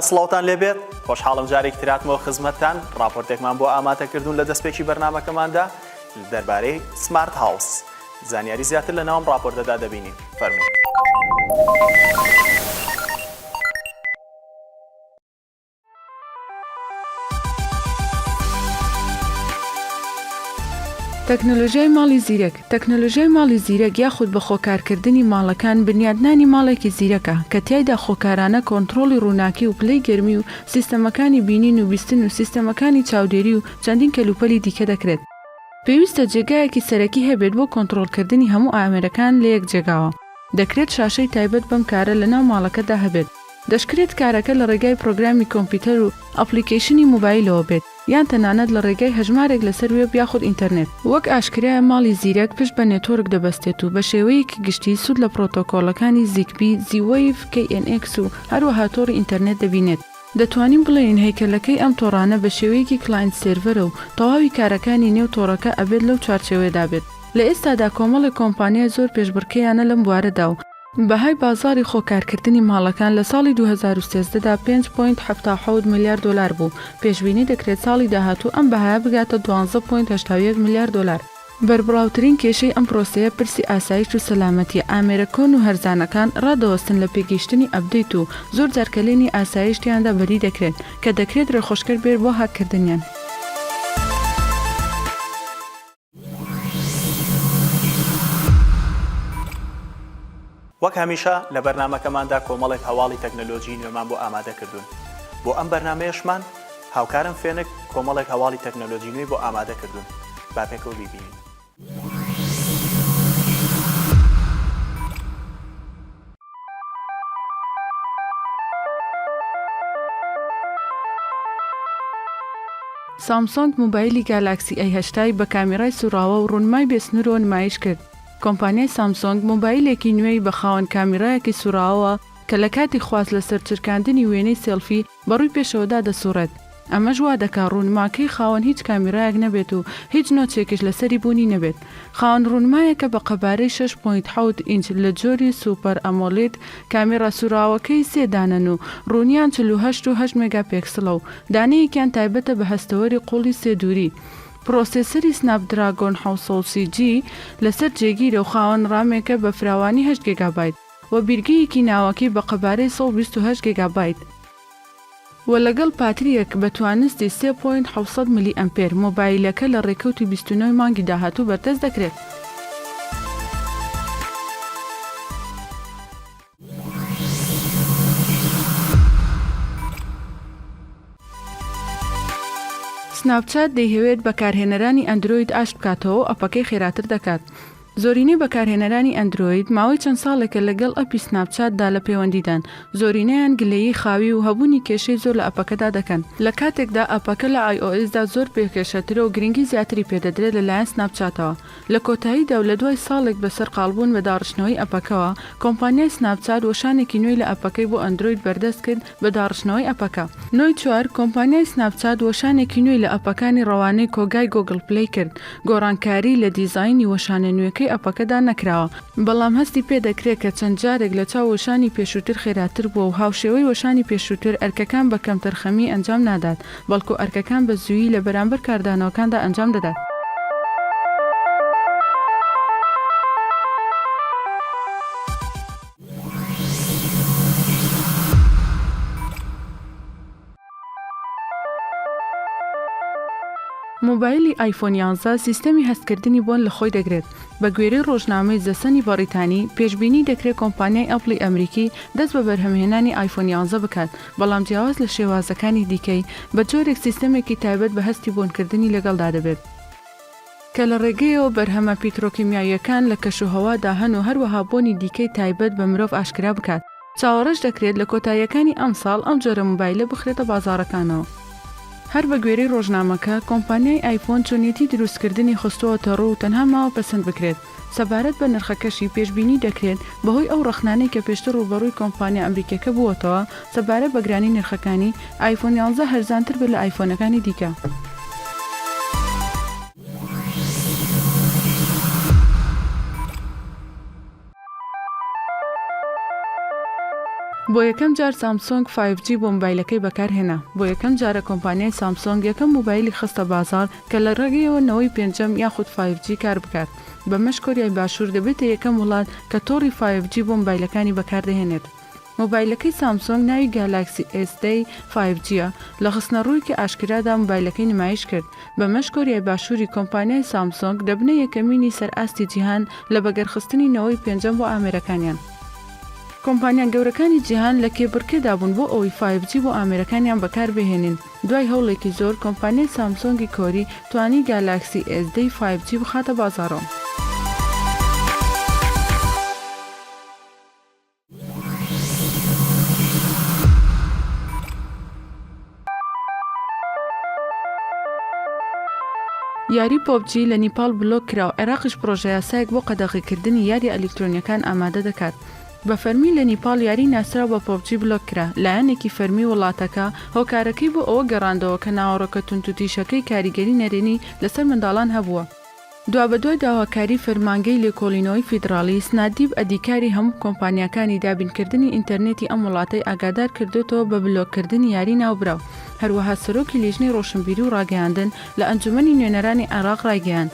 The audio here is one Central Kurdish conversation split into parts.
سڵاوتان لێبێت خۆشحاڵم جارێک تراتمەوە خزمەتتان راپۆرتێکمان بۆ ئاماتەکردون لە دەستپێکی بەرنمەکەماندا دەربارەی سمارت هاوس زانیاری زیاتر لە ناوم راپۆرتەدا دەبینین فەرمو. تەکنەلۆژیای ماڵی زیرەک، تەکنەلۆژیای ماڵی زیرەک یاخود بە خۆکارکردنی ماڵەکان بنیادنانی ماڵێکی زیرەکە کە تیایدا خۆکارانە کۆنتڕۆڵی ڕووناکی و پلەی گەرمی و سیستەمەکانی بینین و بیستن و سیستەمەکانی چاودێری و چەندین کەلوپەلی دیکە دەکرێت. پێویستە جێگایەکی سەرەکی هەبێت بۆ کۆنتڕۆڵکردنی هەموو ئامێرەکان لە یەک جێگاوە. دەکرێت شاشەی تایبەت بەم کارە لەناو ماڵەکەدا هەبێت. دەشکرێت کارەکە لە ڕێگای پرۆگرامی کۆمپیوتەر و ئەپڵیکەیشنی مۆبایلەوە بێت، یان تەنانەت لە ڕێگای هەژمارێک لەسەر وێب یاخود ئینتەرنێت. وەک ئاشکرایە ماڵی زیرەک پشت بە نێتۆرک دەبەستێت و بە شێوەیەکی گشتی سوود لە پرۆتۆکۆڵەکانی زیگبی، زی-وەیڤ، کەی ئێن ئێکس و هەروەها تۆڕی ئینتەرنێت دەبینێت. دەتوانین بڵێین هەیکەلەکەی ئەم تۆڕانە بە شێوەیەکی کلاینت سێرڤەرە و تەواوی کارەکانی نێو تۆڕەکە ئەبێت لەو چوارچێوەیەدا بێت. لە ئێستادا کۆمەڵێک کۆمپانیای زۆر پێشبڕکێیانە لەم بوارەدا و بەهای بازاڕی خۆکارکردنی ماڵەکان لە ساڵی دوو هەزار و سێزدە دا پێنج پۆینت حەفتا و حەوت ملیار دۆلار بوو، پێشبینی دەکرێت ساڵی داهاتوو ئەم بەهایە بگاتە دوازدە پۆینت هەشتا و یەک ملیار دۆلار. بەربڵاوترین کێشەی ئەم پرۆسەیە پرسی ئاسایش و سەلامەتییە، ئامێرە کۆن و هەرزانەکان ڕادەوەستن لە پێگەیشتنی ئەپدەیت و زۆر جار کەلێنی ئاسایش تیاندا بەدی دەکرێت، کە دەکرێت ڕێخۆشکەر بێت بۆ هاککردنیان. وەک هەمیشە لە بەرنامەکەماندا کۆمەڵێک هەواڵی تەکنەلۆجیی نوێمان بۆ ئامادە کردوون. بۆ ئەم بەرنامەیەشمان هاوکارم فێنک کۆمەڵێک هەواڵی تەکنەلۆجیی نوێی بۆ ئامادە کردوون. با پێکەوە بیبینین. سامسۆنگ مۆبایلی گالاکسی ئەی هەشتا ی بە کامیرای سووڕاوە و ڕوونمای بێ سنوورەوە نمایش کرد کۆمپانیای سامسۆنگ مۆبایلێکی نوێی بە خاوەن کامیرایەکی سووڕاوەوە کە لە کاتی خواست لەسەر چرکاندنی وێنەی سێڵفی بەڕووی پێشەوەدا دەسوڕێت، ئەمەش وا دەکات ڕوونماکەی خاوەن هیچ کامیرایەک نەبێت و هیچ نۆچێکیش لەسەری بوونی نەبێت. خاوەن ڕوونمایەکە بە قەبارەی شەش پۆینت حەوت ئینچ لە جۆری سوپەر ئەمۆلید، کامیرا سووراوەکەی سێ دانەن و ڕوونیان چل و هەشت و هەشت مێگاپێکسڵە و دانەیەکیان تایبەتە بە هەستەوەری قووڵی سێ دووری. پرۆسێسەری سناپدراگۆن حەوت سەد سی جی لەسەر جێگیرە و خاوەن ڕامێکە بە فراوانی هەشت گێگابایت. و بیرگەیەکی ناوەکی بە قەبارەی سەد و بیست و هەشت گێگابایت و لەگەڵ پاترییەک بە توانستی سێ پۆینت حەوت سەد ملی ئەمپێر، مۆبایلەکە لە ڕێکەوتی بیست و نۆ ی مانگی داهاتوو بەردەست دەکرێت. سناپچات دەیهەوێت بەکارهێنەرانی ئەندرۆید ئاشت بکاتەوە و ئەپەکەی خێراتر دەکات. زۆرینەی بەکارهێنەرانی ئەندرۆید ماوەی چەند ساڵێکە لەگەڵ ئەپی سناپ چات دا لە پەیوەندیدان، زۆرینەیان گلەیی خاوی و هەبوونی کێشەی زۆر لە ئەپەکەدا دەکەن، لە کاتێکدا ئەپەکە لە ئای ئۆ ئیس دا زۆر بێ کێشەترە و گرنگی زیاتری پێ دەدرێت لەلایەن سناپ چاتەوە. لە کۆتاییدا و لەدوای ساڵێک بە سەرقاڵبوون بە داڕشتنەوەی ئەپەکەوە، کۆمپانیای سناپ چات وەشانێکی نوێی لە ئەپەکەی بۆ ئەندرۆید بەردەست کرد، بە داڕشتنەوەی ئەپەکە. نۆی چوار، کۆمپانیای سناپچات وەشانێکی نوێی لە ئەپەکانی ڕەوانەی کۆگای گۆگڵ پلەی کرد، گۆڕانکاری لە دیزاینی وەشانە نوێکەی ئەپەکەدا نەکراوە، بەڵام هەستی پێ دەکرێت کە چەند جارێک لە چاو وەشانی پێشووتر خێراتر بووە و هاوشێوەی وەشانی پێشووتر ئەرکەکان بە کەمتەرخەمی ئەنجام نادات، بەڵکو ئەرکەکان بە زوویی لە بەرامبەر کاردانەوەکاندا ئەنجام دەدات. مۆبایلی ئایفۆن یانزە سیستەمی هەستکردنی بۆن لە خۆی دەگرێت بە گوێرەی ڕۆژنامەی زەسەنی بەڕیتانی پێشببینی دەکرێت کۆمپانیای ئەپڵی ئەمریکی دەست بە بەرهەمهێنانی ئایفۆن یانزە بکات بەڵام جیاواز لە شێوازەکانی دیکەی بە جۆرێک سیستەمێکی تایبەت بە هەستی بۆنکردنی لەگەڵدا دەبێت. کە لە ڕێگەیەوە بەرهەمە پیترۆکیمیاییەکان لە کەشوهەوادا هەن و هەروەها بۆنی دیکەی تایبەت بە مرۆڤ ئاشکرا بکات. چاوەڕێش دەکرێت لە کۆتاییەکانی ئەمساڵ ئەم جۆرە مۆبایلە بخرێتە بازاڕەکانەوە. هەر بە گوێرەی ڕۆژنامەکە، کۆمپانیای ئایفۆن چۆنیەتی دروستکردنی خستووەتەڕوو و تەنها ماوە پەسەند بکرێت. سەبارەت بە نرخەکەشی، پێشبینی دەکرێت بەهۆی ئەو ڕەخنانەی کە پێشتر ڕووبەڕووی کۆمپانیا ئەمریکییەکە بووەتەوە سەبارەت بە گرانی نرخەکانی، ئایفۆن یانزە هەرزانتر بێت لە ئایفۆنەکانی دیکە. بۆ یەکەم جار سامسۆنگ فایڤ جی بۆ موبایلەکەی بەکارهێنا بۆ یەکەم جارە کۆمپانیای سامسۆنگ یەکەم موبایلی خستە بازاڕ کە لە ڕێگەیەوە نەوەی پێنجەم یاخود فایڤ جی کار بکات، بەمەش کۆریای باشوور دەبێتە یەکەم وڵات کە تۆڕی فایڤ جی بۆ مۆبایلەکانی بەکاردەهێنێت. مۆبایلەکەی سامسۆنگ ناوی گالاکسی ئێس دەی فایڤ جییە، لە خستنەڕوویەکی ئاشکرادا مۆبایلەکەی نمایش کرد، بەمەش کۆریای باشووری کۆمپانیای سامسۆنگ دەبنە یەکەمینی سەر ئاستی جیهان لە بەگەرخستنی نەوەی پێنجەم بۆ ئامێرەکانیان. کۆمپانیا گەورەکانی جیهان لە کێبڕکێدا بوون بۆ ئەوەی فایڤ جی بۆ ئامێرەکانیان بەکاربهێنن، دوای هەوڵێکی زۆر، کۆمپانیای سامسۆنگی کۆری توانی گالاکسی ئێس دە ی فایڤ جی بخاتە بازاڕەوە. یاری پۆبجی لە نیپاڵ بلۆک کرا و عێراقیش پڕۆژەیاسایەک بۆ قەدەغەکردنی یارییە ئەلیکترۆنییەکان ئامادە دەکات. بە فەرمی لە نیپاڵ یاری ناسراو بە پۆبجی بلۆک کرا، لایەنێکی فەرمی وڵاتەکە هۆکارەکەی بۆ ئەوە گەڕاندەوە کە ناوەڕۆکە توندوتیژەکەی کاریگەری نەرێنی لەسەر منداڵان هەبووە. دوابەدوای داواکاری فەرمانگەی لێکۆڵینەوەی فیدراڵی، سنادیپ ئەدیکاری هەموو کۆمپانیاکانی دابینکردنی ئینتەرنێتی ئەم وڵاتەی ئاگادار کردۆتەوە بە بلۆککردنی یاری ناوبراو. هەروەها سەرۆکی لیژنەی ڕۆشنبیری و ڕاگەیاندن لە ئەنجومەنی نوێنەرانی عێراق ڕایگەیاند،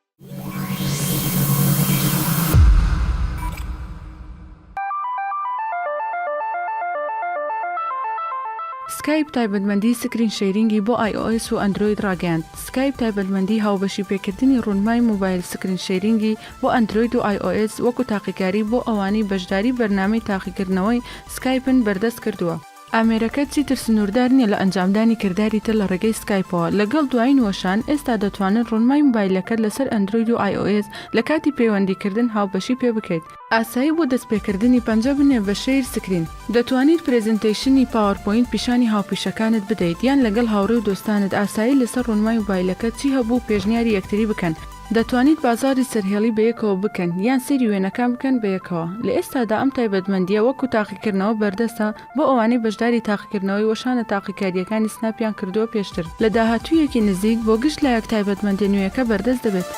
سکایپ تایبەتمەندی سکرین شەیرینگی بۆ ئای ئۆ ئێس و ئەندرۆید ڕاگەیاند سکایپ تایبەتمەندی هاوبەشی پێکردنی ڕوونمای موبایل سکرین شەیرینگی بۆ ئەندرۆید و ئای ئۆ ئێس وەکو تاقیکاری بۆ ئەوانەی بەشداری بەرنامەی تاقیکردنەوەی سکایپن بەردەست کردووە. ئامێرەکە چیتر سنووردار نییە لە ئەنجامدانی کرداری تر لە ڕێگەی سکایپەوە، لەگەڵ دوایین وەشان، ئێستا دەتوانن ڕۆنمای مۆبایلەکەت لەسەر ئەندرۆید و ئایئۆئێس لە کاتی پەیوەندیکردن هاوبەشی پێ بکەیت. ئاسایی بۆ دەستپێکردنی پەنجە بنێ بە شەیر سکرین. دەتوانیت پرێزنتەیشنی پاوەرپۆینت پیشانی هاوپیشەکانت بدەیت یان لەگەڵ هاوڕێ و دۆستانت ئاسایی لەسەر ڕۆنمای مۆبایلەکەت چی هەبوو پێشنیاری یەکتری بکەن. دەتوانیت بازاڕی سەرهێڵی بەیەکەوە بکەن یان سەیری وێنەکان بکەن بەیەکەوە. لە ئێستادا ئەم تایبەتمەندییە وەکو تاقیکردنەوە بەردەستە بۆ ئەوانەی بەشداری تاقیکردنەوەی وەشانە تاقیکارییەکانی سناپیان کردووە پێشتر. لە داهاتوویەکی نزیک بۆ گشت لایەک تایبەتمەندیە نوێیەکە بەردەست دەبێت.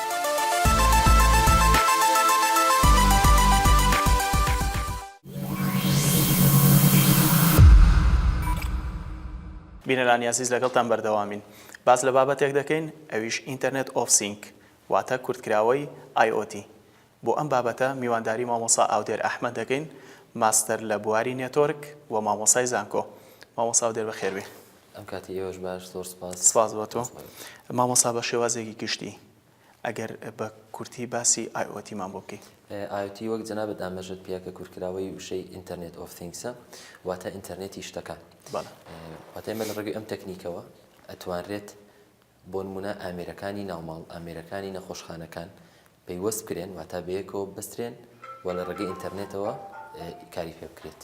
بینەرانی ئازیز لەگەڵتان بەردەوامین. باس لە بابەتێک دەکەین ئەویش ئینتەرنێت ئۆف سینک واتە کورتکراوەی IOT بۆ ئەم بابەتە میوانداری مامۆسا ئاودێر ئەحمەد دەکەین ماستەر لە بواری نێتۆرک و مامۆسای زانکۆ مامۆسا ئاودێر بەخێربێی. ئەم کاتی ئێوەش باش زۆر سوپاس. سپاس بۆ تۆ مامۆسا بە شێوازێکی گشتی ئەگەر بە کورتی باسی ئای ئۆ تیمان بۆ بکەی. ئای ئۆ تی وەک جەنابت ئاماژەت پێ کرد کورتکراوەی وشەی ئینتەرنێت ئۆف ثینگسە واتە ئینتەرنێتی شتەکان. واتە ئێمە لە ڕێگەی ئەم تەکنیکەوە ئەتوانرێت بۆ نموونە ئامێرەکانی ناو ماڵ، ئامێرەکانی نەخۆشخانەکان پەیوەست بکرێن واتە بەیەکەوە ببەسترێن و لە ڕێگەی ئینتەرنێتەوە کاری پێ بکرێت.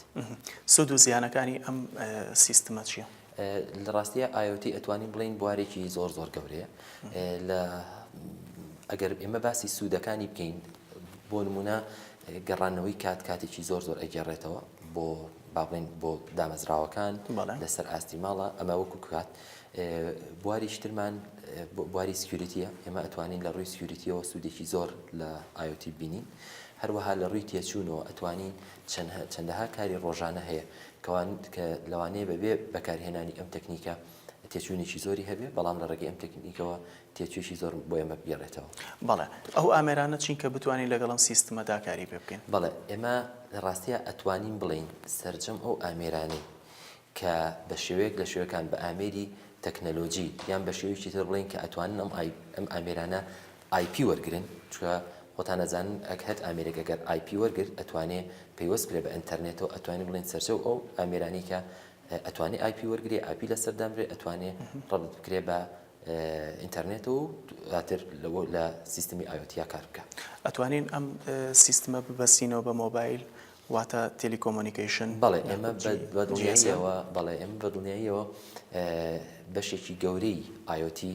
سوود و زیانەکانی ئەم سیستمە چییە؟ لە ڕاستیە ئایۆتی ئەتوانین بڵین بوارێکی زۆر زۆر گەورەیە لە ئەگەر ئێمە باسی سوودەکانی بکەین بۆ نمونە گەڕانەوەی کات کاتێکی زۆر زۆر ئەگەڕێتەوە بۆ باڵێن بۆ دامەزراوەکان لەسەر ئاستی ماڵە ئەمە وەکو کات بواری شترمان بواری سکیوریتیە ئێمە ئەتوانین لە ڕووی سکیوریتیەوە سوودێکی زۆر لە ئایۆتی بینین هەروەها لە ڕووی تێچوونەوە ئەتوانین چەندەها کاری ڕۆژانە هەیە کە لەوانەیە بەبێ بەکارهێنانی ئەم تەکنیکە تێچووێکی زۆری هەبێت، بەڵام لە ڕێگەی ئەم تەکنیکەوە تێچووێکی زۆر بۆ ئێمە بگەڕێتەوە. بەڵێ، ئەو ئامێرانە چین کە بتوانین لەگەڵ ئەم سیستمە دا کاری پێ بکەین؟ بەڵێ، ئێمە لە ڕاستییا ئەتوانین بڵێین سەرجەم ئەو ئامێرانەی کە بە شێوەیەک لە شێوەکان بە ئامێری تەکنەلۆجی یان بە شێوەیەکی تر بڵێین کە ئەتوانن ئەم ئامێرانە ئای پی وەرگرن چونکە خۆتان ئەزانن ئەک هەت ئامێرێک ئەگەر ئای پی وەرگرت ئەتوانێ پەیوەست بکرێ بە ئەنتەرنێتەوە ئەتوانین بڵێن سەرجەو ئەو ئامێرانەی کە ئەتوانێ ئای پی وەرگرێ ئای پی لەسەر دانرێ ئەتوانێ ڕەبت بکرێ بە ئینتەرنێتەوە و دواتر لەوە لە سیستمی ئایۆتیا کار بکە. ئەتوانین ئەم سیستمە ببەستینەوە بە مۆبایل واتە تێلیکۆمۆنیکەیشن؟ بەڵێ ئێمە بە دڵنیاییەوە بەڵێ ئێمە بە دڵنیاییەوە بەشێکی گەورەی ئایۆتی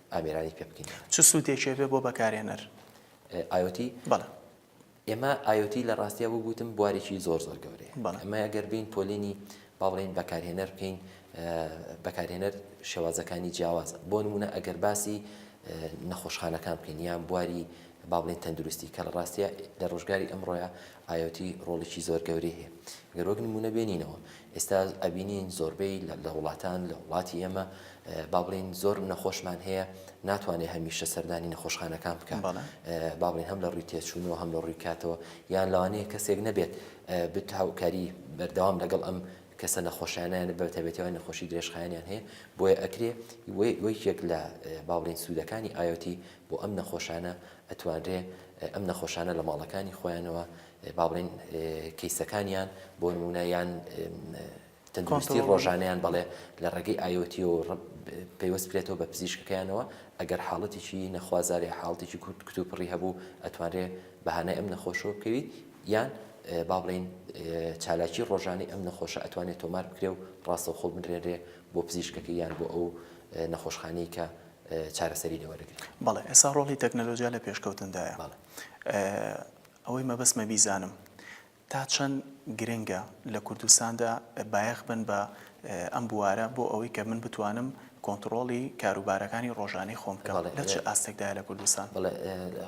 ئامێرانی پێ بکەین. چ سوودێکی ئەبێت بۆ بەکارهێنەر؟ IoT؟ بەڵێ. ئێمە IoT لە ڕاستیا وەک وتم بوارێکی زۆر زۆر گەورەیە. بەڵێ. ئەمە ئەگەر بێین پۆلێنی با بڵێین بەکارهێنەر بکەین، بەکارهێنەر شێوازەکانی جیاوازە. بۆ نموونە ئەگەر باسی نەخۆشخانەکان بکەین یان بواری با بڵێین تەندروستی کە لە ڕاستیا لە ڕۆژگاری ئەمڕۆیا ئایۆتی ڕۆڵێکی زۆر گەورەی هەیە گەر وەک نمونە بێنینەوە ئێستا ئەبینین زۆربەی لە وڵاتان لە وڵاتی ئێمە با بڵین زۆر نەخۆشمان هەیە ناتوانێت هەمیشە سەردانی نەخۆشخانەکان بکەم با بڵین هەم لە ڕووی تێچوونەوە هەم لە ڕووی کاتەوە یان لەوانەیە کەسێک نەبێت بت هاوکاری بەردەوام لەگەڵ ئەم کەسە نەخۆشیانیان بەتەبێتەوەی نەخۆشی درێژخایانیان هەیە بۆیە ئەکرێ وەیەک لە باڵێن سوودەکانی ئاەتی بۆ ئەم نەخۆشانە ئەتوانرێ ئەم نەخۆشانە لە ماڵەکانی خۆیانەوە با بڵێین کەیسەکانیان بۆ نموونە یان تەندروستی ڕۆژانەیان بەڵێ لە ڕێگەی ئایۆتیەوە پەیوەست بکرێتەوە بە پزیشکەکەیانەوە ئەگەر حاڵەتێکی نەخوازارێ حاڵتێکی کورت کتوپڕی هەبوو ئەتوانرێ بەهانای ئەم نەخۆشەوە بکەوی یان با بڵین چالاکی ڕۆژانی ئەم نەخۆشە ئەتوانێت تۆمار بکرێ و ڕاستەوخۆڵ بنرێنرێ بۆ پزیشکەکە یان بۆ ئەو نەخۆشخانەی کە چارەسەری لێ وەرگرێت. بەڵێ ئێستا ڕۆڵی تەکنەلۆجیا لە پێشکەوتندایە. ئەوەی مەبەستمە بیزانم تا چەند گرنگە لە کوردستاندا بایەخ بن بە ئەم بوارە بۆ ئەوەی کە من بتوانم کۆنتڕۆڵی کاروبارەکانی ڕۆژانەی خۆم بکەم لە چ ئاستێکدایە لە کوردستان؟ بەڵێ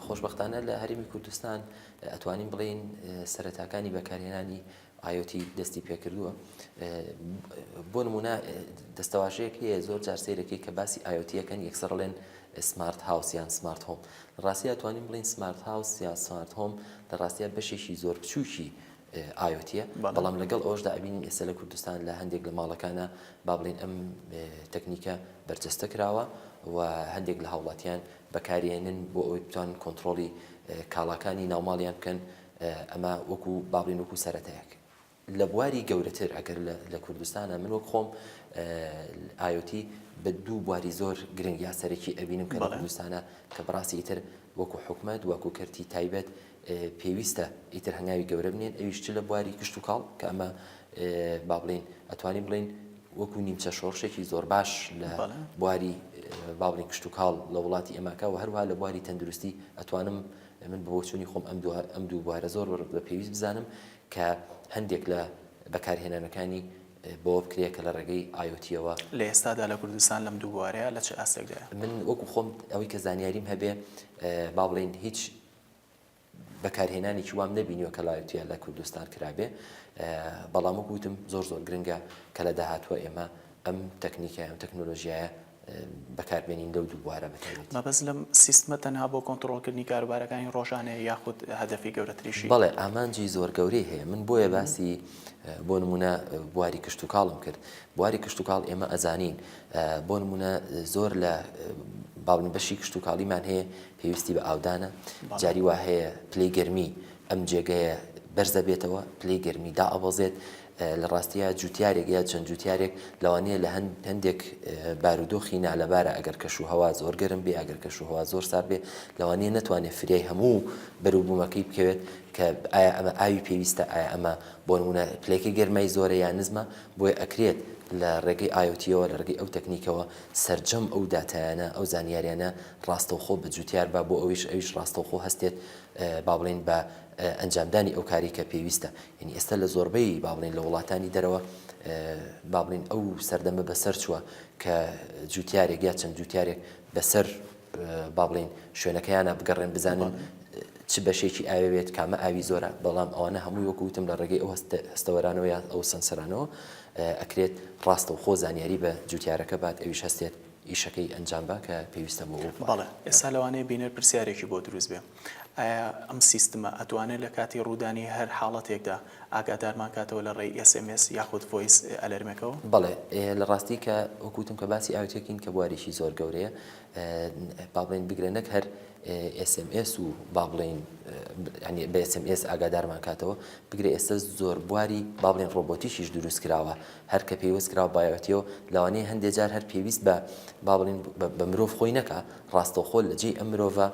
خۆشبەختانە لە هەرێمی کوردستان ئەتوانین بڵێین سەرەتاکانی بەکارهێنانی IOT دەستی پێکردووە بۆ نمونە دەستەواژەیەک هەیە زۆر جار سەیرەکەی کە باسی IOT یەکەن یەکسەر ڵێن سمارت هاوس یان سمارت هۆم لە ڕاستیا توانین بڵین سمارت هاوس یا سمارت هۆم لە ڕاستیا بەشێکی زۆر بچووکی ئاوتە بەڵام لەگەڵ ئەوشدا ئەبینین ئێستا لە کوردستان لە هەندێک لە ماڵەکانە با بڵێن ئەم تەکنیکە بەرجەستە کراوە و هەندێک لە هاوڵاتیان بەکارێنن بۆ ئەوەی بتوان کۆنتترۆلی کاڵاکانی ناوماڵیان بکەن ئەمە وەکو باڵین وەکو سەرەتایەک لە بواری گەورەتر ئەگەر لە کوردستانە من وەک خۆم ئایۆتی بە دوو بواری زۆر گرنگ یا سەرەکی ئەبینم کە لە کوردستانە کە بڕاستی ئیتر وەکو حکومت وەکو کەرتی تایبەت پێویستە ئیتر هەنگاوی گەورە بنێن ئەویش چ لە بواری کشت و کاڵ کە ئەمە با بڵین ئەتوانی بڵین وەکو نیمچە شۆڕشێکی زۆر باش لە بواری باڵین کشت و کاڵ لە وڵاتی ئەماکە و هەروها لە بواری تەندروستی ئەتوانم من بە بۆچوونی خۆم ئەم دوو ئەم دوو بوارە زۆر بە پێویست بزانم کە هەندێک لە بەکارهێنانەکانی بەوە بکرێت کە لە ڕێگەی ئایۆتیەوە لە ئێستادا لە کوردستان لەم دوو بوارەیە لە چ ئاستێکدایە؟ من وەکو خۆم ئەوەی کە زانیاریم هەبێ با بڵێین هیچ بەکارهێنانێکی وام نەبینیوە کە لایوتیا لە کوردستان کرابێ بەڵام وەکوتم زۆر زۆر گرنگە کە لە داهاتوە ئێمە ئەم تەکنیکە ئەم تەکنۆلۆژیایە بەکاربێنین لەو دوو بوارە بەتایبەتی. مەبەست لەم سیستمە تەنها بۆ کۆنتڕۆڵکردنی کاروبارەکانی ڕۆژانەیە یاخود هەدەفی گەورەتریشی؟ بەڵێ ئامانجی زۆر گەورەی هەیە من بۆیە باسی بۆ نمونە بواری کشتوکاڵم کرد بواری کشتوکاڵ ئێمە ئەزانین بۆ نمونە زۆر لە باڵن بەشی کشتوکاڵیمان هەیە پێویستی بە ئاودانە جاری وا هەیە پلەی گەرمی ئەم جێگەیە بەرزە بێتەوە پلەی گەرمی دائەبەزێت لە ڕاستیا جوتیارێک یا چەند جوتیارێک لەوانەیە لە هەندێک بارودۆخی نالەبارە ئەگەر کەش و هەوا زۆر گەرم بێ ئەگەر کەش و هەوا زۆر سار بێ لەوانەیە نتوانێت فریای هەموو بەروبوومەکەی بکەوێت کە ئایا ئەمە ئاوی پێویستە ئایا ئەمە بۆ نمونە پلەکەی گەرمای زۆرە یا نزمە بۆیە ئەکرێت لە ڕێگەی ئایۆتیەوە لە ڕێگەی ئەو تەکنیکەوە سەرجەم ئەو داتایانە ئەو زانیاریانە ڕاستەوخۆ بە جوتیار با بۆ ئەویش ئەویش ڕاستەوخۆ هەستێت با بڵین بە ئەنجامدانی ئەو کاری کە پێویستە یەنی ئێستا لە زۆربەی با بڵێین لە وڵاتانی دەرەوە با بڵێین ئەو سەردەمە بە سەر چووە کە جووتیارێک یا چەند جووتیارێک بە سەر با بڵێین شوێنەکەیانە بگەڕێن بزانن چ بەشێکی ئاوێت کامە ئاوی زۆرە بەڵام ئەوانە هەمووی وەکوتم لە ڕێگەی ئەو هەستەوەرانەوە یا ئەو سەنسەرانەوە ئەکرێت ڕاستە و خۆ زانیاری بە جوتیارەکە بات ئەویش هەستێت ئیشەکەی ئەنجام با کە پێویستە بۆ بەڵێ ئێستا لەوانەیە بینەر پرسیارێکی بۆ دروست بێ ئایا ئەم سیستمە ئەتوانێت لە کاتی ڕوودانی هەر حاڵەتێکدا ئاگادارمان کاتەوە لە ڕێی ئێس ئێم ئێس یاخود ڤۆیس ئەلەرمێکەوە؟ بەڵێ لە ڕاستی کە وەکو وتم کە باسی ئاوتێک ین کە بواریشی زۆر گەورەیە با بڵێین بگرە نەک هەر ئێس ئێم ئێس و با بڵێین یانی بە ئێس ئێم ئێس ئاگادارمان کاتەوە بگرە ئێستە زۆر بواری با بڵێین ڕۆبۆتیکیش دروست کراوە هەر کە پێیوەست کراوە با ئاوتێیەوە لەوانەیە هەندێ جار هەر پێویست بە با بڵێین بە مرۆڤ خۆی نەکا ڕاستەوخۆ لە جێی ئەم مرۆڤە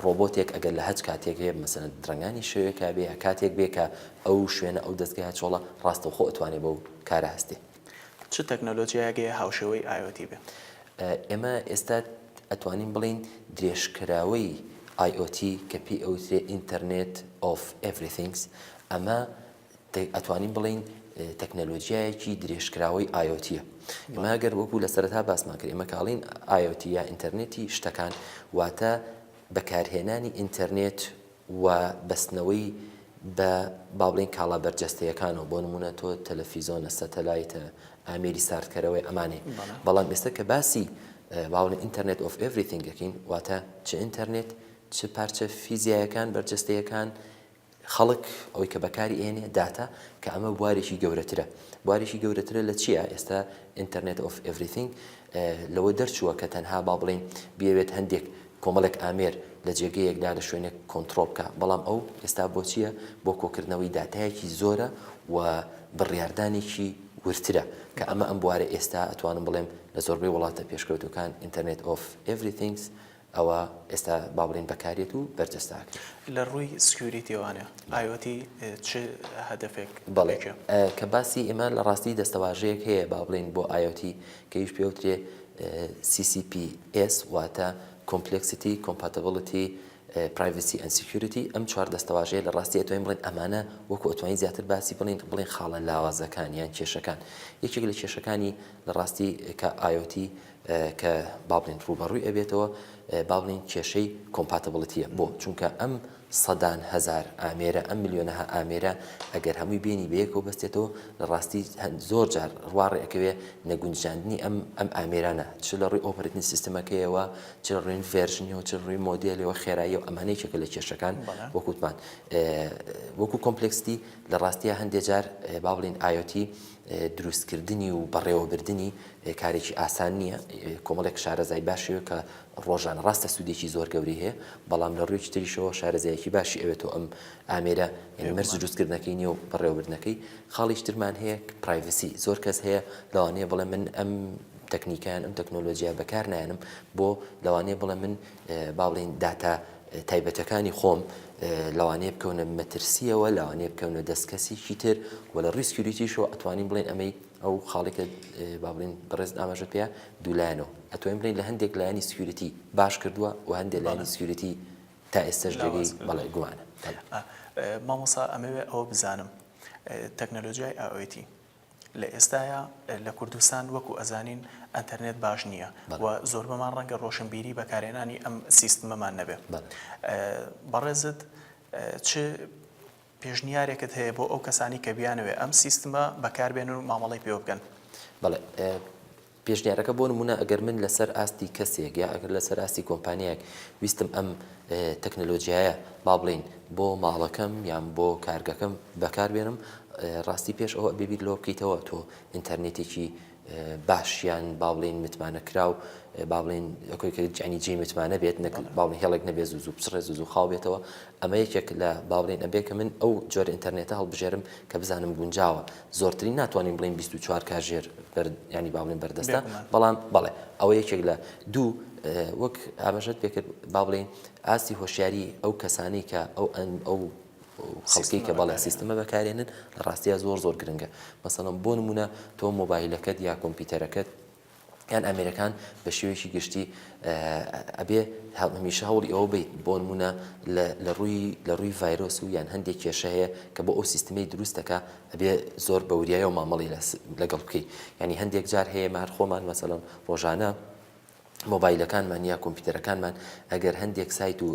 ڕۆبۆتێک ئەگەر لە هەچ کاتێک هەیە مەسەلەن درەنگانی شەوێکا بێ یا کاتێک بێ کە ئەو شوێنە ئەو دەزگایە چۆڵە ڕاستەوخۆ ئەتوانێ بەو کارە هەستێ. چ تەکنەلۆجیایەک هەیە هاوشێوەی IOT بێ؟ ئێمە ئێستا ئەتوانین بڵێین درێژکراوەی IOT کە پێی ئەوترێ Internet of Everythings ئەمە ئەتوانین بڵێین تەکنەلۆجیایەکی درێژکراوەی IoT یە. ئێمە گەر وەکو لە سەرەتا باسمان کرد، ئێمە کاڵین IoT یا ئینتەرنێتی شتەکان واتە بەکارهێنانی ئینتەرنێت و بەستنەوەی بە با بڵێین کاڵا بەرجەستەیەکانەوە، بۆ نموونە تۆ تەلەفیزۆنە، سەتەلایتە، ئامێری ساردکەرەوەی ئەمانەی. بەڵام ئێستا کە باسی با بڵێین ئینتەرنێت ئۆف ئێڤریثینگ ئەکەین، واتە چ ئینتەرنێت، چ پارچە فیزیایەکان، بەرجەستەیەکان، خەڵک ئەوەی کە بەکاری ئەهێنێ داتا کە ئەمە بوارێکی گەورەترە بوارێکی گەورەترە لە چییە ئێستا ئینتەرنێت ئۆف ئێڤریثینگ لەوە دەرچووە کە تەنها با بڵێین بیەوێت هەندێک کۆمەڵێک ئامێر لە جێگەیەکدا لە شوێنێک کۆنتترۆڵ بکە بەڵام ئەو ئێستا بۆچییە بۆ کۆکردنەوەی داتایەکی زۆرە و بڕیاردانێکی ورترە کە ئەمە ئەم بوارە ئێستا ئەتوانم بڵێم لە زۆربەی وڵاتە پێشکەوتوەکان ئینتەرنێت ئۆف ئێڤریثینگس ئەوا ئێستا با بڵێین بەکارێت و بەرجەستە ئەکرێت. لە ڕووی سکیوریتیەوانە ئایۆتی چ هەدەفێک بەڵێ کە باسی ئێمە لە ڕاستی دەستەواژەیەک هەیە با بڵێین بۆ ئایۆتی کە ئیش پێ وترێ سی سی پی ئێس واتە کۆمپلێکسیتی کۆمپاتبڵتی پرایڤسی ئەند سکیوریتی ئەم چوار دەستەواژەیە لە ڕاستی ئەتوانین بڵێین ئەمانە وەکو ئەتوانین زیاتر باسی بڵێین بڵێین خاڵە لاوازەکان یان کێشەکان یەکێک لە کێشەکانی لە ڕاستی کە ئایۆتی کە با بڵێین ڕووبەڕووی ئەبێتەوە با بڵێین کێشەی کۆمپاتبڵتیە بۆ؟ چونکە ئەم سەدان هەزار ئامێرە ئەم ملیۆنەها ئامێرە ئەگەر هەمووی بینی بەیەکەوە بەستێتەوە لە ڕاستی زۆر جار ڕواڕێ ئەکەوێ نەگونجاندنی ئەم ئەم ئامێرانە چ لە ڕووی ئۆپەرەتنی سیستمەکەیەوە چ لە ڕووی ڤێرژنیەوە چ ڕووی مۆدێلەوە خێرایی و ئەمانە یەکێکە لە کێشەکان وەک وتمان وەکو کۆمپلێکستی لە ڕاستیە هەندێ جار با بڵێین ئایۆتی دروستکردنی و بەڕێوەبردنی کارێکی ئاسان نییە، کۆمەڵێک شارەزای باش ئەوێت کە ڕۆژانە، ڕاستە سوودێکی زۆر گەورەی هەیە، بەڵام لە ڕوویەکی تریشەوە شارەزایەکی باشی ئەوێتەوە ئەم ئامێرە، یانی مەرج دروستکردنەکەی نییە و بەڕێوەبردنەکەی. خاڵیکی ترمان هەیە پرایڤسی، زۆر کەس هەیە لەوانەیە بڵێ من ئەم تەکنیکە یان ئەم تەکنۆلۆجیایە بەکار نایەنم، بۆ؟ لەوانەیە بڵێ من با بڵێین داتا تایبەتەکانی خۆم لەوانەیە بکەونە مەترسیەوە لەوانەیە بکەونە دەست کەسیکی تر و لە ڕیسکیوریتیشەوە ئەتوانین بڵێن ئەمەی ئەو خاڵێکە با بڵێن بەڕێز ئاماژە پێ دوولایەنەوە ئەتوانین بڵێن لە هەندێک لایەنی سکیوریتی باش کردووە و هەندێک لایەنی سکیوریتی تا ئێستاش جێگەی بەڵێ گومانە. مامۆستا ئەمەوێ ئەوە بزانم تەکنەلۆجیای ئائۆیتی لە ئێستایا لە کوردستان وەکو ئەزانین ئەنتەرنێت باش نییە و زۆربەمان ڕەنگە ڕۆشنبیری بەکارهێنانی ئەم سیستمەمان نەبێت بەڕێزت چ پێشنیارێکت هەیە بۆ ئەو کەسانی کە بیانەوێت ئەم سیستمە بەکاربێنن و مامەڵی پێوە بکەن؟ بەڵێ پێشنیارەکە بۆ نموونە ئەگەر من لەسەر ئاستی کەسێک یا ئەگەر لەسەر ئاستی کۆمپانیایەک ویستم ئەم تەکنەلۆجیایە با بڵێین بۆ ماڵەکەم یان بۆ کارگەکەم بەکار بێنم ڕاستی پێش ئەوە بێبییر لۆ بکەیتەوە تۆ ئینتەرنێتێکی باشیان با بڵێن متمانە کراو با بڵێن ئەکۆیکەجانی جێ متمانە بێت نەکەن باڵ هێڵێک نەبێ زوو زوو بچڕێ زوو زوو خاو بێتەوە ئەمە یەکێک لە باڵێن ئەبێ کە من ئەو جۆر ئینتەرنێتە هەڵبژێرم کە بزانم گونجاوە زۆرترین ناتوانین بڵێین بیست و چوار کاژێر بەرد یانی با بڵێین بەردەستە بێگومان بەڵام بەڵێ ئەوە یەکێک لە دوو اه، وەک ئاماژەت پێ کرد با بڵێین ئاستی هۆشیاری ئەو کەسانەی کە ئەو ئەن ئەو خەڵکەی سیستمە کە بەڵێ بەکارێنن سیستمە بەکارێنن لە ڕاستیا زۆر زۆر گرنگە مەسەڵەن بۆ نموونە تۆ مۆبایلەکەت یا کۆمپیوتەرەکەت یان ئامێرەکان بە شێوەیەکی گشتی ئەبێ هەمیشە هەوڵی ئەوە بیت بۆنمونە لە ڕووی لە ڕووی ڤایرۆس و یان هەندێک کێشە هەیە کە بۆ ئەو سیستمی دروستەکە ئەبێ زۆر بەوریایە و مامەڵی لەگەڵ بکەیت ینی هەندێک جار هەیە مار خۆمان مەسەلم ڕۆژانە مۆبایلەکانمان یا کۆمپیوتەرەکانمان ئەگەر هەندێک سایت و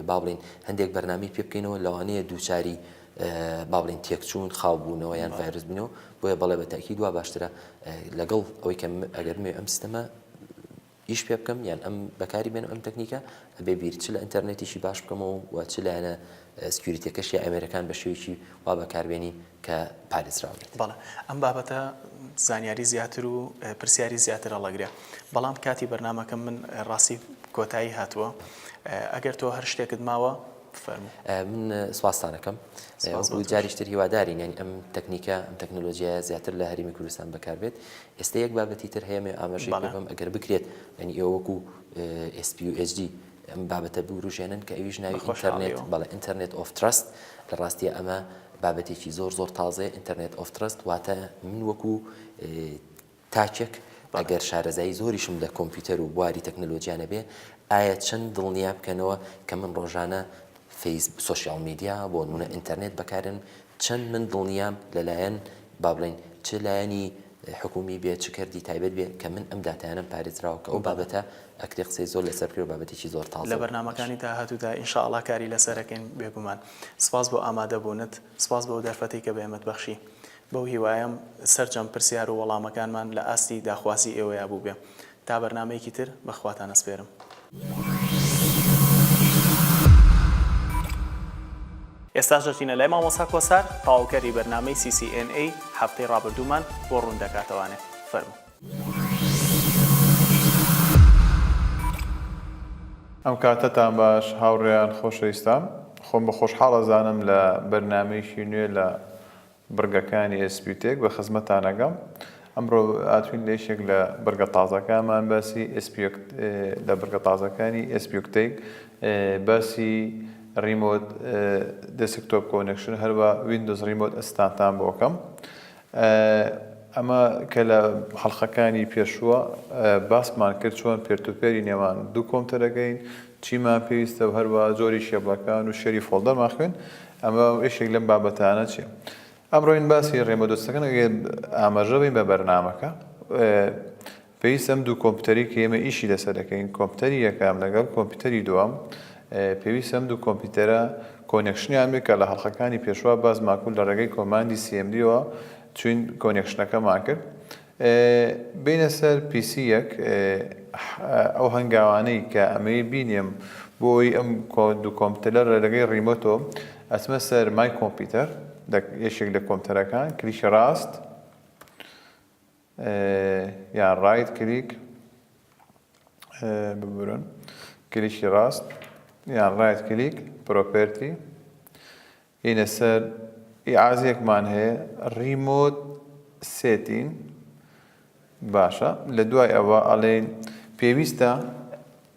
با بڵین هەندێک بەرنامی پێ بکەینەوە لەوانەیە دووچاری با بڵێن تێکچوون خاو بوونەوە یان ڤایرس بوونەوە بۆیە بەڵێ بە تاکیید وا باشترە لەگەڵ ئەوەی کە ئەگەر مێ ئەم سیستەمە ئیش پێ بکەم یان ئەم بەکاری بێنم ئەم تەکنیکە ئەبێ بیر چ لە ئینتەرنێتیشی باش بکەمەوە و چ لایەنە سکیوریتەکەش یا ئەمێرەکان بە شێوێکی وا بەکاربێنی کە پارێزراو بێت بەڵێ ئەم بابەتە زانیاری زیاتر و پرسیاری زیاتر هەڵەگرێ بەڵام کاتی بەرنمەکەم من ڕاستی کۆتایی هاتووە ئەگەر تۆ هەر شتێکت ماوە من سوپاستان ئەکەم وەکو جاریش تر هیوادارین یانی ئەم تەکنیکە ئەم تەکنۆلۆژیایە زیاتر لە هەرێمی کوردستان بەکاربێت ئێستا یەک بابەتی تر هەیە مەوێ ئاماژەی پێ بکەم ئەگەر بکرێت یانی ئێوە وەکو SPUHD ئەم بابەتە بوروژێنن کە ئەویش ناوی ئینتەرنێت بەڵێ ئینتەرنێت ئۆف تراست لە ڕاستیە ئەمە بابەتێکی زۆر زۆر تازەیە ئینتەرنێت ئۆف تراست واتە من وەکو تاکێک ئەگەر شارەزایی زۆریشم لە کۆمپیوتەر و بواری تەکنەلۆجیا نەبێ، ئایا چەند دڵنیا بکەنەوە کە من ڕۆژانە فەیس سۆشیاڵ میدیا، بۆ نموونە ئینتەرنێت بەکاردێنم، چەند من دڵنیام لەلایەن با بڵێین چ لایەنی حکوومی بێ، چ کەرتی تایبەت بێ کە من ئەم داتایانەم پارێزراوە، کە ئەو بابەتە ئەکرێ قسەی زۆر لەسەر بکرێ و بابەتێکی زۆر تازە و باش. لە بەرنامەکانی داهاتوودا ان شاء اللە کاری لەسەر ئەکەین بێگومان. سپاس بۆ ئامادەبوونت، سپاس بۆ ئەو دەرفەتەی کە بە ئێمەت بەخشی. بەو هیوایەم سەرجەم پرسیار و وەڵامەکانمان لە ئاستی داخوازی ئێوەیا بووبێ. تا بەرنامەیەکی تر بە خواتان ئەسپێرم. ئێستاش دەچینە لای مامۆستا کۆسار تەواوکەری بەرنامەی CCNA هەفتەی ڕابردوومان بۆ ڕوون دەکاتەوانێ. فەرموو. ئەم کاتەتان باش هاوڕێیان خۆشەویستان. خۆم بە خۆشحاڵ ئەزانم لە بەرنامەیەکی نوێ لە بڕگەکانی ئێسپیوتێک بە خزمەتتان ئەگەم. ئەمڕۆ هاتووین لە یەکێک لە بڕگە تازەکانمان باسی ئێسپیوکت لە بڕگە تازەکانی ئێسپیوکتەیک باسی ڕیمۆت دێسکتۆپ کۆنێکشن هەروا ویندۆز ڕیمۆت ئەسستانتان بۆ ئەکەم. ئەمە کە لە حەڵقەکانی پێشووە باسمان کرد چۆن پێرتوپێری نێوان دوو کۆمپتەرەکەین، چیمان پێویستە و هەروا جۆری کێبڵەکان و شێری فۆڵدەرمان خوێند. ئەمە یەکێک لەم بابەتانە چیە ئەمڕۆین باسی ڕێمە دۆستەکەن ئاماژە بین بە بەرنمەکە پێویست ئەم دوو کۆمپیوتەری کە ئێمە ئیشی لەسەر دەکەین کۆمپیوتەری یەکەم لەگەڵ کۆمپیوتەری دووەم پێویست ئەم دوو کۆمپیوتەرە کۆنێکشنیان بێت کە لە هەڵخەکانی پێشوا باز ماکول لە ڕێگەی کۆماندی سیMDەوە چین کۆنێکشنەکەمان کرد بێینە سەر پیسی یەک ح ئەو هەنگاوانەی کە ئەمەوێ بینێم بۆ ئەوەی ئەم دوو کۆمپتەلە لە رێگەی ریمۆتۆ ئەچمە سەر مای کۆمپیتەر لە یەکێک لە کۆمپتەرەکان کلیکی راست یان رایت کلیک ببورن کلیکی راست یان رایت کلیک پرۆپێرتی هینە سەر ئیعازەیەکمان هەیە ریمۆت سێتین باشە لە دوای ئەوە ئەڵێین پێویستە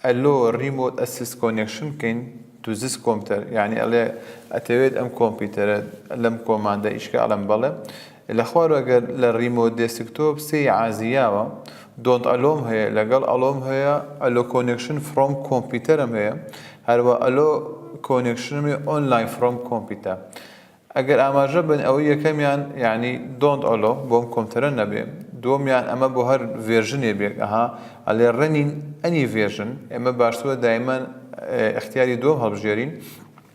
ئەلۆ ریمۆت ئەسیست کۆنێکشن بکەین تو زیس کۆمتەر یانی ئەڵێ ئەتەوێت ئەم کۆمپیوتەرە لەم کۆماندە ئیشکە ئەڵێم بەڵێ لە خوارەوە گەر لە ڕیمۆت دێسکتۆپ سێ ی عازی یاوە، دۆنت ئەلۆم هەیە، لەگەڵ ئەلۆم هەیە، ئەلۆ کۆنێکشن فڕۆم کۆمپیوتەرم هەیە، هەروا ئەلۆ کۆنێکشنم هەیە ئۆنلاین فڕۆم کۆمپیوتە. ئەگەر ئاماژە بن ئەوەی یەکەمیان یانی دۆنت ئەلۆ بۆم کۆمپتەرە نەبێ، دووەمیان ئەمە بۆ هەر ڤێرژنێ بێک ئەها ئەلێ ڕەنین ئەنی ڤێرژن، ئێمە باشترە دایمەن ئیختیاری دووەم هەڵبژێرین.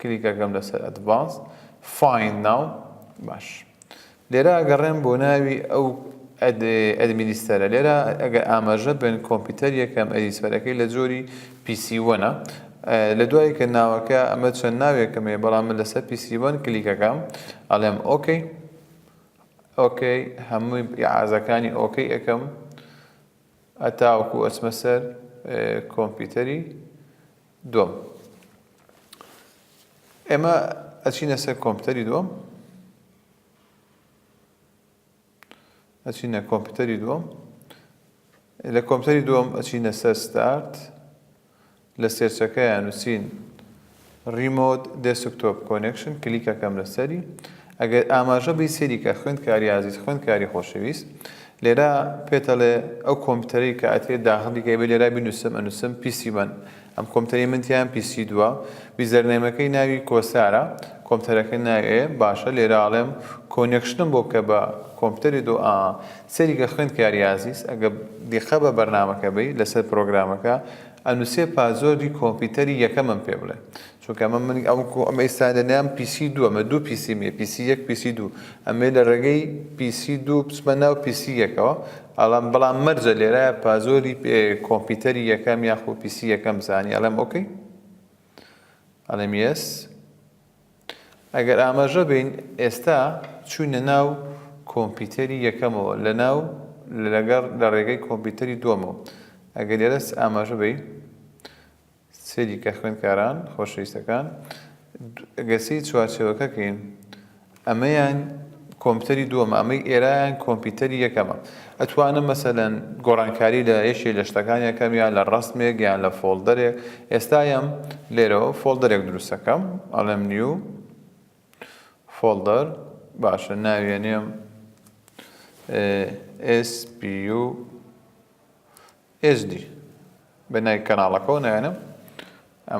کلیک ئەکەم لەسەر Advanced Find Now باش لێرە ئەگەڕێم بۆ ناوی ئەو ئەدمینیستەرە لێرە ئەگەر ئاماژە بن کۆمپیوتەر یەکەم ئەدیسفەرەکەی لە جۆری پیسیوەنە لە دوای کە ناوەکە ئەمە چەند ناوێکەمێ بەڵام من لەسەر پیسیوەن کلیکەکەم ئەڵێم ئۆکەی ئۆکەی هەمووی عازەکانی ئۆکەی ئەەکەم ئەتاوەکو ئەچمە سەر کۆمپیوتەری دووەم، ئێمە ئەچینە سەر کۆمپیوتەری دووەم، ئەچینە کۆمپیوتەری دووەم، لە کۆمپیوتەری دووەم ئەچینە سەر ستارت، لە سێرچەکەیان نووسین ریمۆت دێسکتۆپ کۆنێکشن کلیکەکەم لەسەری ئەگەر ئاماژە بەی سەیری کە خوێندکاری ئازیز خوێندکاری خۆشەویست لێرا پێتەڵێ ئەو کۆمپیوتەرەی کە ئەتێ داخڵی کەی بە لێرا بینوسم ئەنوسم پیسی وەن ئەم کۆمپیوتەری من تیان پیسی دووە ویزەرنەیمەکەی ناوی کۆسارە کۆمپیوتەرەکە ناوێ باشە لێرا ئەڵێم کۆنێکشنم بۆ بکە بە کۆمپیوتەری دو ئا سەیری کە خوێندکاری ئازیز ئەگە دیقە بە بەرنامەکە بی لەسەر پرۆگرامەکە ئەنوسێ پازۆردی کۆمپیوتەری یەکەمم پێ بڵێ چونکە ئەمە من ئەوکو ئەم ئیستا لەلام پیسی دووە مە دوو پیسی مێ پیسی یەک پیسی دوو ئەمێ لە ڕێگەی پیسی دوو بچمە ناو پیسی یەکەوە ئەڵام بەڵام مەرجە لێرە پازۆری کۆمپیوتەری یەکەم یاخۆ پیسی یەکەم بزانی ئەڵێم ئۆکەی ئەڵێم یەس ئەگەر ئاماژە بین ئێستا چوینە ناو کۆمپیوتەری یەکەمەوە لە ناو لەگەڕ لە ڕێگەی کۆمپیوتەری دووەمەوە ئەگەر لێرەس ئاماژە بی سەیریکە خوێندکاران خۆشەویستەکان گەسیی چوارچێوەکەکەین ئەمەیان کۆمپیوتەری دووەمە ئەمەی ئێرایان کۆمپیوتەری یەکەمە ئەتوانم مەسەلەن گۆڕانکاری لە یەکێ لە شتەکان یەکەم یان لە ڕەسمێک یان لە فۆڵدەرێک ئێستا یەم لێرەوە فۆڵدەرێک دروستەکەم ئەڵێم نیو فۆڵدەر باشە ناویێنێم SPU ئێجدی بە ناوی کەناڵەکەوە نایەنم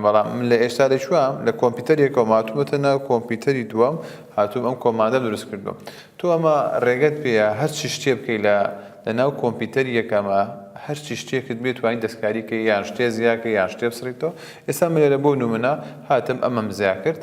بەڵام من لە ئێستا لە چوام لە کۆمپیوتەرێکەوە ماتومەتە ناو کۆمپیوتەری دووەم هاتووم ئەم کۆماندە دروست کردوم تۆ ئەمە ڕێگەت پێە هەرچی شتێ بکەی لە لە ناو کۆمپیوتەر یەکەمە هەرچی شتێکت بێت توانین دەستکاری کە یان شتێ زیاکە یان شتێ بسڕیتەوە ئێستا من لێرە بۆ نمونە هاتم ئەمەم زیا کرد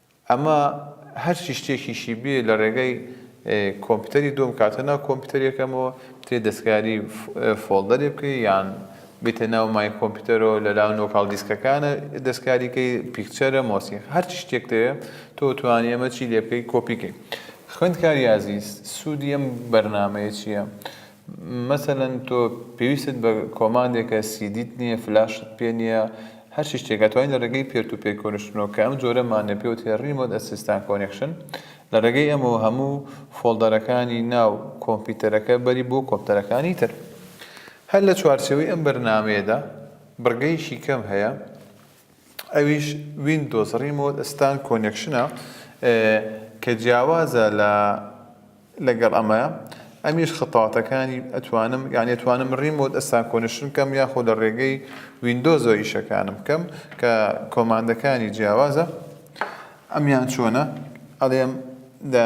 ئەمە هەرچی شتێکیشی بێ لە ڕێگای کۆمپیوتەری دۆم کاتە ناو کۆمپیوتەرێکەمەوە تێ دەستکاری فۆڵدەرێ بکەی یان بیتە ناو مای کۆمپیوتەرەوە لە لاو نۆکاڵ دیسکەکانە دەستکاریکەی پیکچەرە مۆسیق هەرچی شتێک دەوێ تۆ توانی ئەمە چی لێ بکەی کۆپیکەی خوێندکاری ئازیز سوودی ئەم بەرنامەیە چییە؟ مەسەلەن تۆ پێویستت بە کۆماندێکە سیدیت نییە فلاشت پێ نییە هەرچی شتێک ئەتوانی لە ڕێگەی پێر تو پێر کۆنشتنەوە کە ئەم جۆرەمانە پێ وترێ ڕیمۆت ئەسیستان کۆنێکشن لە ڕێگەی ئەمەوە هەموو فۆڵدەرەکانی ناو کۆمپیوتەرەکە بەری بۆ کۆمپتەرەکانی تر هەر لە چوارچێوەی ئەم بەرنامەیەدا بڕگەیەکی کەم هەیە ئەویش ویندۆز ڕیمۆت ستان کۆنێکشنە کە جیاوازە لە لەگەڵ ئەمە ئەمیش خەتاتەکانی ئەتوانم یان ئەتوانم ڕیمۆت ئەسان کۆنشن کەم یاخۆ لە ڕێگەی ویندۆزۆ ئیشەکانم کەم کە کۆماندەکانی جیاوازە ئەمیان چۆنە ئەڵێم لە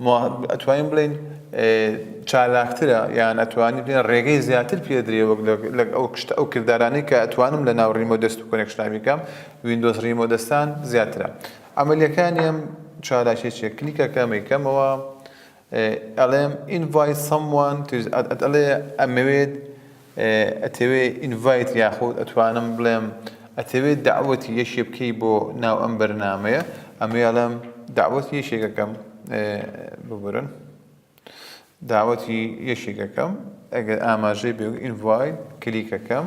ما ئەتوانین بڵێین چالاکترە یان ئەتوانین بڵێین ڕێگەی زیاتر پێدرێ وەک لەک ئەو کشت ئەو کردارانەی کە ئەتوانم لە ناو ڕیمۆ دەست و کۆنێکشناوی بکەم ویندۆز ڕیمۆ دەستان زیاترە ئەمەلیەکانی ئەم چالاکیە چیە کلیکەکە مەیکەمەوە ئەڵێم invite someone to ئەڵێ ئەمەوێت ئەتەوێ ئینڤایت یاخود ئەتوانم بڵێم ئەتەوێ دەعوەتی یەکێ بکەی بۆ ناو ئەم بەرنامەیە ئەمەی ئەڵێم دەعوەتی یەکێک ئەکەم ببورن داوەتی یەکێک ئەکەم ئەگەر ئاماژەی بێ ئینڤایت کلیک ئەکەم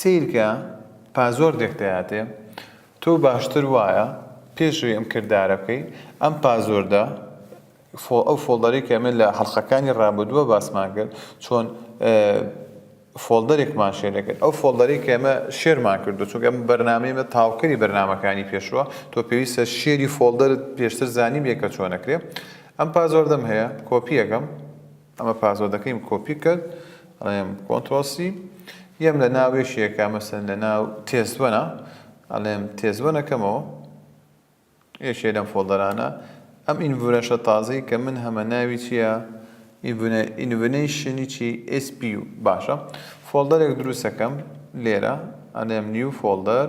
سەیرکە پا زۆر دێک دەیاتێ تۆ باشتر وایە پێش ئەوی ئەم کردارە بکەی ئەم پازۆردە ئەو فۆڵدەرەی کە ئێمە لە حەڵقەکانی ڕابردووە باسمان کرد چۆن فۆڵدەرێکمان شێر دەکرد ئەو فۆڵدەرەی کە ئێمە شێرمان کردو چونکە ئەم بەرنامەی ئێمە تاوکەری بەرنمەکانی پێشووە تۆ پێویستە شێری فۆڵدەرت پێشتر زانیبێ کە چۆنەکرێ ئەم پازۆردەم هەیە کۆپییەکەم ئەمە پاسۆدەکەیم کۆپی کرد ئەڵێم کۆنترۆڵ سی یەم لە ناو یەکێکە مەسەن لە ناو تێست وەنە ئەڵێم تێست وەنەکەمەوە یەکێ لەم فۆڵدەرانە ئەم ئینڤورەشە تازەی کە من هەمە ناوی چییە ئینڤنەیشنی چی SP و باشە فۆڵدەرێک دروستەکەم لێرە ئەڵێم نیو فۆڵدەر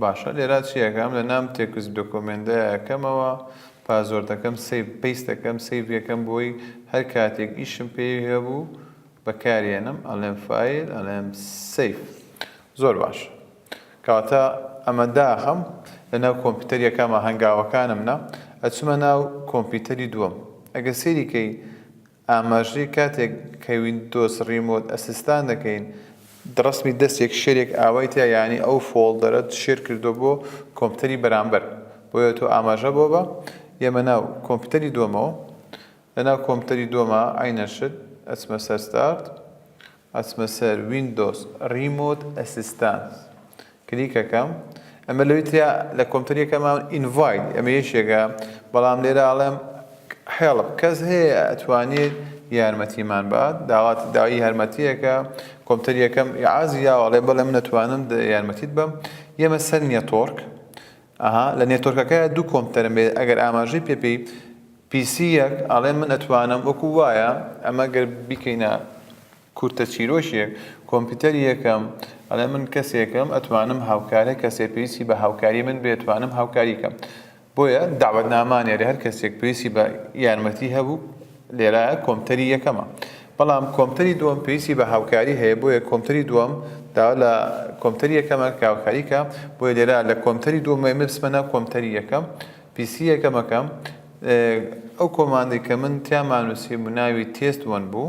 باشە لێرا چی ئەکەم لە نام تێکست دۆکۆمێندا ئەکەمەوە پازۆردەکەم سەیڤ پەیست دەکەم سەیڤ یەکەم بۆی هەر کاتێک ئیشم پێی هەبوو بەکارێنم ئەڵێم فایل ئەڵێم سەیڤ زۆر باش کەواتە ئەمە داخم لەناو کۆمپیوتەر یەکەمە هەنگاوەکانم نا ئەچمە ناو کۆمپیوتەری دووەم ئەگە سێریکەی ئاماژەی، کاتێک کە ویندۆز ڕیمۆت ئەسیستان دەکەین ڕەسمی دەستێک شێرێک ئاوای تیا یانی ئەو فۆڵدەرەت شێر کردووە بۆ کۆمپیوتەری بەرامبەر بۆیە تۆ ئاماژە بۆ بە ئێمە ناو کۆمپیوتەری دۆمەوە لەناو کۆمپیوتەری دۆما عەینەن شت ئەچمە سەر ستارت ئەچمە سەر ویندۆز ریمۆت ئەسیستانس کلیک ئەکەم ئەمە لەوی تریا لە کۆمپیوتەر یەکەمان ئینڤایت ئەمە یەکێکە بەڵام لێرە ئەڵێم هێڵپ کەس هەیە ئەتوانێت یارمەتیمان بات داوات داوای یارمەتیەکە کۆمپیوتەر یەکەم عازی یاوەڵێ بەڵێ من ئەتوانم یارمەتیت بەم یەمە سەر نیە تۆرک ئەها لە نێتۆرکەکەیا دوو کۆمپتەرم بێ ئەگەر ئاماژەی پێ پێی پی سی یەک ئەڵێ من ئەتوانم وەکو وایە ئەمە گەر بیکەینە کورتە چیرۆکێک کۆمپیوتەر یەکەم ئەڵێ من کەسێکم ئەتوانم هاوکارە کەسێ پێویستی بە هاوکاری من بێ توانم هاوکاریکەم بۆیە داوەت نامانێرە هەر کەسێک پێویستی بە یارمەتی هەبوو لێرە کۆمپتەری یەکەمە بەڵام کۆمپتەری دووەم پێویستی بە هاوکاری هەیە بۆیە کۆمپتەری دووەم داوا لە کۆمپتەری یەکەمە کە هاوکاری کە بۆیە لێرە لە کۆمپتەری دووەم ئێمە بچمە ناو کۆمپتەری یەکەم پیسی یەکەمەکەم ئەو کۆماندی کە من تیامانوسی بوو ناوی تێست وەن بوو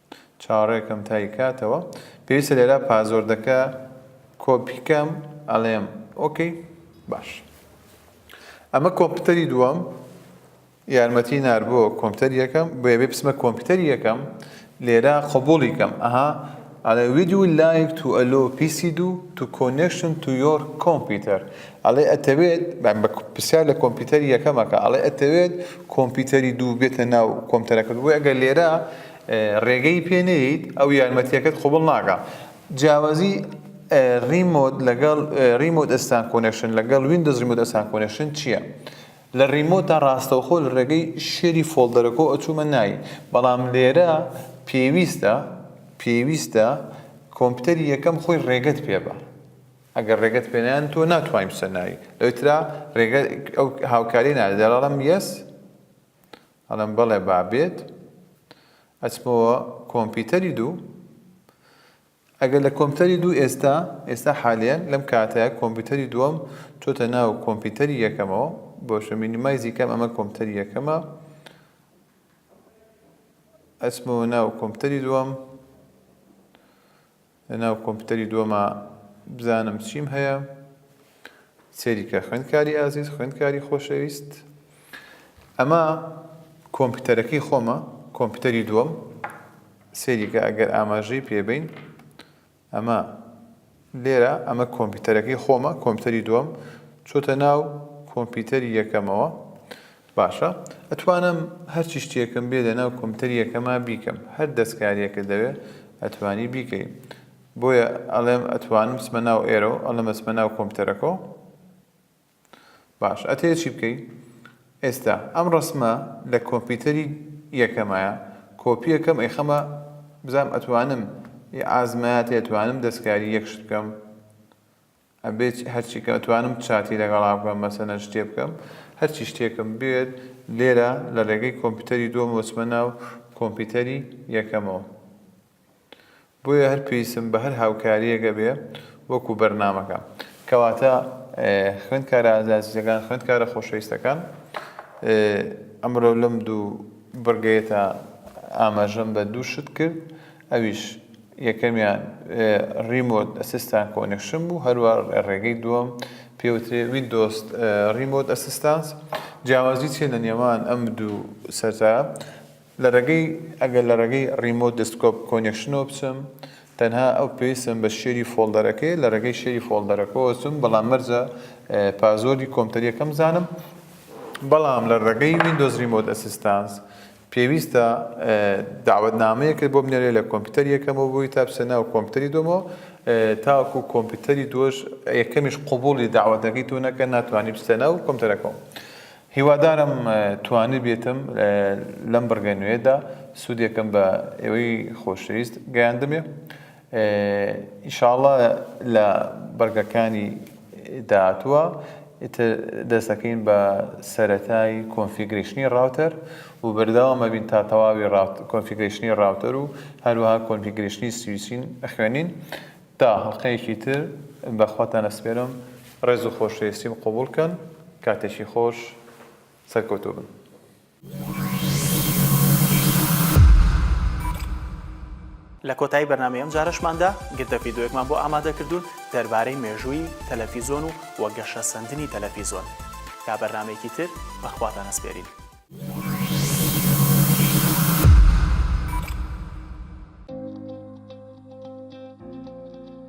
چاوەڕێکەم تای کاتەوە. پێویستە لێرە پازۆردەکە کۆپی کەم ئەلێم ئۆکەی باش ئەمە کۆمپیوتەری دووەم یارمەتی نار بۆ کۆمپیوتەر یەکەم بۆیە بێ بسمە کۆمپیوتەر یەکەم لێرە قبوڵی کەم ئەها ئەڵێ ویدیو لایک تو ئەلۆ پیسی دوو تو کۆنێکشن تو یۆر کۆمپیوتەر ئەڵێ ئەتەوێت بە پرسیار لە کۆمپیوتەری یەکەمەکە ئەڵێ ئەتەوێت کۆمپیوتەری دوو بێتە ناو کۆمپیوتەرەکەت بۆیە ئەگەر لێرە ڕێگەی پێ نەیەیت ئەو یارمەتیەکەت قبوڵ ناکا جیاوازی ڕیمۆت لەگەڵ ڕیمۆت ئەستان کۆنێکشن لەگەڵ ویندۆز ڕیمۆت ئەستان کۆنێکشن چییە؟ لە ڕیمۆتدا ڕاستەوخۆ لە ڕێگەی شێری فۆڵدەرەکۆ ئەچوومە ناوی بەڵام لێرە پێویستە پێویستە کۆمپیوتەری یەکەم خۆی ڕێگەت پێ بە ئەگەر ڕێگەت پێنیان تۆ ناتوانین بچە ناوی لەوترا ڕێگە ئەو هاوکاری نادەڵم یەس ئەڵێم بەڵێ با بێت ئەچمەوە کۆمپیتەری دوو ئەگەر لە کۆمپیتەری دوو ئێستا ئێستا حالیان لەم کاتەیە کۆمپیتەری دووەم چۆتە ناو کۆمپیتەری یەکەمەوە بۆشە مینیمایزی کەم ئەمە کۆمپیتەری یەکەمە ئەچمەوە ناو کۆمپیتەری دووەم لەناو کۆمپیوتەری دووەما بزانم چیم هەیە سێریکە خوێندکاری ئازیز خوێندکاری خۆشەویست ئەمە کۆمپیوتەرەکەی خۆمە کۆمپیوتەری دووەم سێریکە ئەگەر ئاماژەی پێبین ئەمە لێرە ئەمە کۆمپیوتەرەکەی خۆمە کۆمپیوتەری دووەم چۆتە ناو کۆمپیوتەری یەکەمەوە باشە ئەتوانم هەرچی شتێکم بێ لەناو کۆمتەریەکەما بیکەم هەر دەسکاریەکت لەوێ ئەتوانی بیکەی بۆیە ئەڵێم ئەتوانم بچمە ناو ئێرەو ئەڵێم ئەچمە ناو کۆمتەرەکەو باش ئەتەیە چی بکەی ئێستا ئەم ڕسمە لە کۆمپیوتەری یەکەمایە کۆپیەکەم ئەیخەمە بزانم ئەتوانم ئازمایەت ئەتوانم دەستکاری یەکشت بکەم ئەبێ هەرچی کە ئەتوانم چاتی لەگەڵا بکەم مەسەلەن شتێ بکەم هەرچی شتێکم بوێت لێرە لە رێگەی کۆمپیوتەری دووەمەوە ئەچمە ناو کۆمپیوتەری یەکەمەوە بۆیە هەر پێویستم بە هەر هاوکاریەک ئەبێ وەکو بەرنامەکە کەواتە خوێندکارە ئازازیزەکان خوێندکارە خۆشەویستەکان ئەمرۆ لەم دوو بڕگەیەتا ئاماژەم بە دوو شت کرد ئەویش یەکەمیان ڕیمۆت ئەسیستان کۆنێکشن بوو هەروا ڕێگەی دووەم پێوترێ ویندۆز ڕیمۆت ئەسیستانس جیاوازی چیە لە نێوان ئەم دوو سەرتا لە ڕێگەی ئەگەر لە ڕێگەی ڕیمۆت دەستکۆپ کۆنێکشنەوە بچم تەنها ئەو پێویستم بە شێری فۆڵدەرەکەی لە ڕێگەی شێری فۆڵدەرەکەەوە چم بەڵام مەرجە پازۆری کۆمتەریەکەم زانم بەڵام لە ڕێگەی ویندۆز ریمۆت ئەسیستانس پێویستە دەعوەتنامەیەکت بۆ بنێرێ لە کۆمپیوتەری یەکەمەوە بۆی تا بچیتە ناو کۆمپیوتەری دووەمەوە تاوەکو کۆمپیوتەری دووەش یەکەمیش قبوڵی دەعوەتەکەی تۆ نەکەن ناتوانی بچیتە ناو کۆمپیوتەرەکەوە هیوادارم توانیبێتم لەم بڕگە نوێیەدا سوودێکم بە ئێوەی خۆشەویست گەیاندبێ. ان شاء اللە لە بەرگەکانی داهاتووە ئیتر دەست دەکەین بە سەرەتای کۆنفیگرەیشنی ڕاوتەر و بەردەوام ئەبین تا تەواوی کۆنفیگرەیشنی ڕاوتەر و هەروەها کۆنفیگرەیشنی سویچین ئەخوێنین تا هەڵقەیەکی تر بەخواتان ئەسپێرم ڕێز و خۆشەویستیم قبوڵ کەن کاتێکی خۆش سەرکەوتوو بن. لە کۆتایی بەرنامەی ئەم جارەشماندا گرتە فیدۆیەکمان بۆ ئامادە کردوون دەربارەی مێژووی تەلەفیزۆن و وە گەشە سەندنی تەلەفیزۆن تا بەرنمەیەکی تر بەخواتان ئەسپێرین.